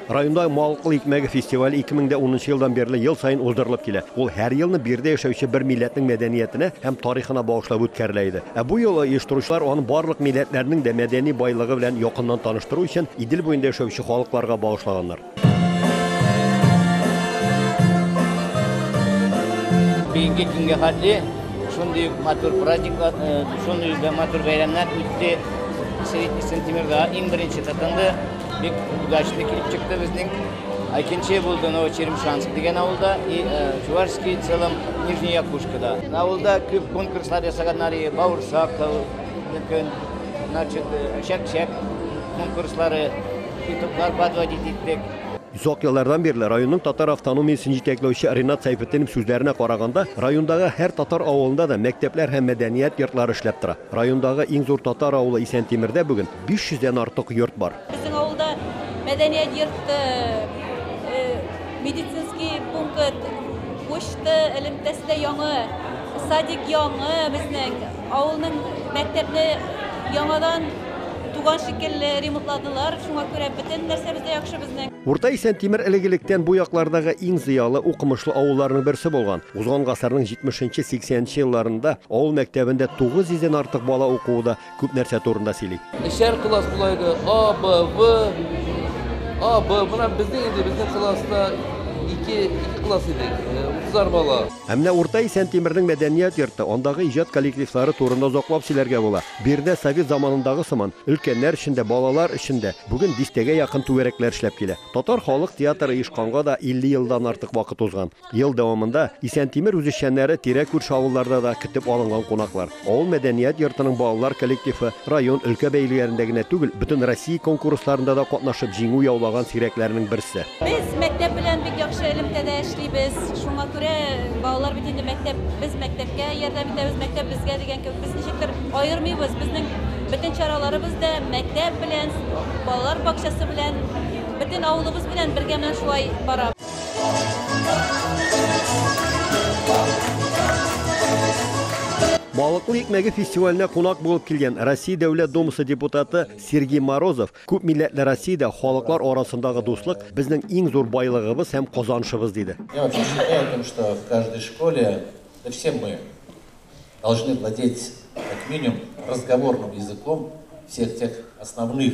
Районда Малкыл икмәге фестивале 2010 елдан бирле ел саен уздырылып килә. Ул һәр елны биредә яшәүче бер милләтнең мәдәниятенә һәм тарихына багышлап үткәрелә иде. Ә бу юлы оештыручылар аны барлык милләтләрнең дә мәдәни байлыгы белән якыннан таныштыру өчен Идел буенда яшәүче халыкларга багышлаганнар. Бүгенге көнгә хәтле шундый ук матур праздниклар, э, шундый ук матур бәйрәмнәр үтте. Сентябрьдә иң беренче тотынды. Бик удачный килеп чыкты безнең. Икенче булды Новочеремшанск дигән авылда и э, Чувашский целом Нижняя Кушкада. Авылда күп конкурслар ясаганнар, и бауырсак та мөмкин, значит, чәк-чәк э, конкурслары, китоклар подводить иттек. Озак еллардан бирле районның татар автономиясен җитәкләүче Ренат Сәйфетдинов сүзләренә караганда, райондагы һәр татар авылында да мәктәпләр һәм мәдәният йортлары эшләп тора. Райондагы иң зур татар авылы Исәнтимердә бүген 500 дән артык йорт бар. Безнең авылда мәдәният йорты, медицинский пункт, почта элемтәсе дә яңы, садик яңы безнең, авылның мәктәпне яңадан туган шикелле ремонтладылар, шуңа күрә бөтен нәрсәбез дә яхшы безнең. Урта Исәнтимер элек-электән бу яклардагы иң зыялы, укымышлы авылларның берсе булган. Узган гасырның 70 нче, 80 нче елларында авыл мәктәбендә 900 дән артык бала укуы да, күп нәрсә турында сөйли. Эчәр класс була иде, А, Б, В. А, Б, менә безнең инде, безнең класста ике, ике класс иде, утызар бала. Ә менә Урта Исәнтимернең мәдәният йорты, андагы иҗат коллективлары турында озаклап сөйләргә була. Биредә совет заманындагы сыман, өлкәннәр өчен дә, балалар өчен дә бүген дистәгә якын түгәрәкләр эшләп килә. Татар халык театры оешканга да 50 елдан артык вакыт узган. Ел дәвамында Исәнтимер үзешчәннәре тирә-күрше авылларда да көтеп алынган кунаклар. Авыл мәдәният йортының балалар коллективы район, өлкә бәйгеләрендә генә түгел, бөтен Россия конкурсларында да катнашып җиңү яулаган сирәкләрнең берсе. Без мәктәп белән бик яхшы элемтәдә эшлибез. Шуңа күрә балалар бит инде мәктәп, без мәктәпкә ярдәм итәбез, мәктәп безгә дигән кебек. Без ничектер аермыйбыз. Безнең бөтен чараларыбыз да мәктәп белән, балалар бакчасы белән, бөтен авылыбыз белән бергә менә шулай бара. Балыклы икмәге фестиваленә кунак булып килгән Россия Дәүләт Думасы депутаты Сергей Морозов күп милләтле Россиядә халыклар арасындагы дуслык безнең иң зур байлыгыбыз һәм казанышыбыз диде. Я вообще считаю о том, что в каждой школе, да все мы должны владеть как минимум разговорным языком всех тех основных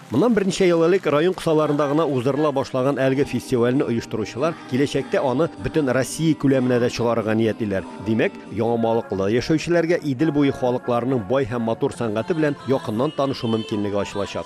Моннан берничә ел элек район кысаларында гына уздырыла башлаган әлеге фестивальне оештыручылар киләчәктә аны бөтен Россия күләменә дә чыгарырга ниятлиләр. Димәк, Яңамалыклыда яшәүчеләргә Идел буе халыкларының бай һәм матур сәнгате белән якыннан танышу мөмкинлеге ачылачак.